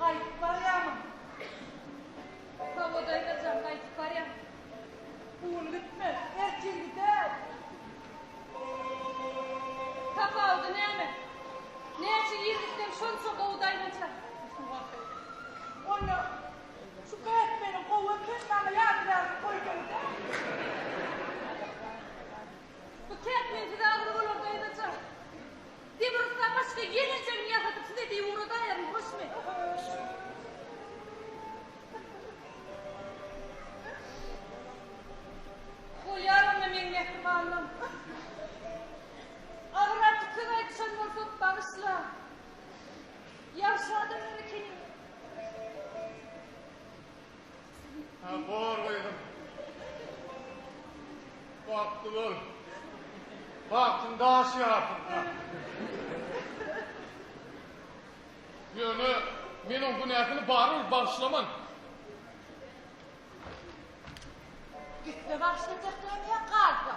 Gaýdyp barýamyň? Hawa, daýza jan, gaýdyp barýan. Bu gün gitmez, ertir gider. Tapawudy näme? Näçe ýyl gitseň, şonça gowy daýza jan. Onda şu Bätmeniň gowy eken, maňa ýadygärlik goýsaňyz-a. Bu Kätmensiz agyr bolar, daýza jan. Demirgzda başga geljegini ýasadyp size deý ugra daýaryn hoşmy. Bolýar onda meň mähribanlym. Agyrardy söz aýdyşan bolsak bagyşla. Ýagşy adamlar ekeniň. Bor gyzym. Bagtly bol. Bagtyň daş ýarsyn. Ýöne men oň günäsini barybir bagyşlaman. Gitse bagyşlajak ýaly ýa galsa.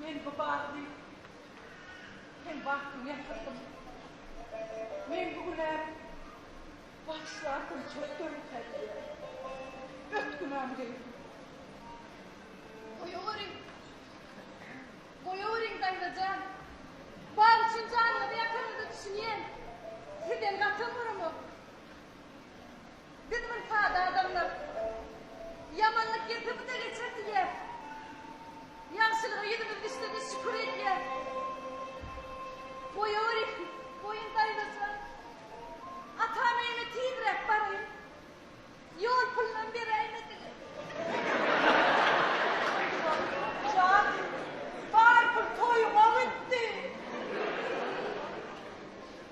Men bu bagty hem bagtyny ýasadim. Men bu günä bagyşlardym çöl döwlete diýýär. Öt günämi geýdim. Goýaweriň. Goýaweriň daýza jan. Bag üçin janyňyzy ýakanyňyza düşünýän. Sizden gaty oňaromok. Biz bir sada adamlar. Ýamanlyk gepimize geçer diýýäs. Ýagşylyga ýüzümiz düşse-de şükür edýäs. Goýawerýän goýun daýzasyna. Atam öýüne tizräk baraýyn. Ýol pulunam beräýmediler. Jan, bar pul toýuňa gitdi.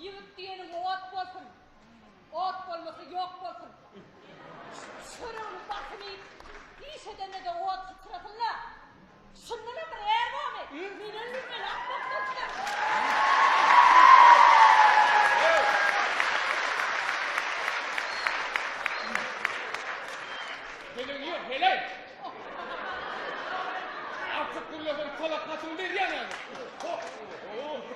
Ýigit diýeniň ot bolsun. Ot bolmasa ýok bolsun. Çörügini basym iýip, iş edende-de ot syçrasyn-la. Şundanam bir är bormy? Men öldüm, heläk bolup durupdym.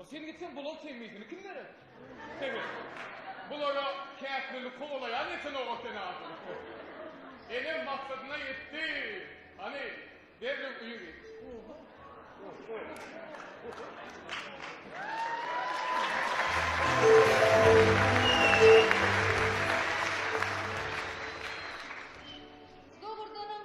A sen gitseň bular temmisini kim berer? Sebet. Bulara käkirini kowalaýan eken oga sen adyny koý. Enem maksadyna ýetdi. Hany, derrew öýe git. Dogrudanam,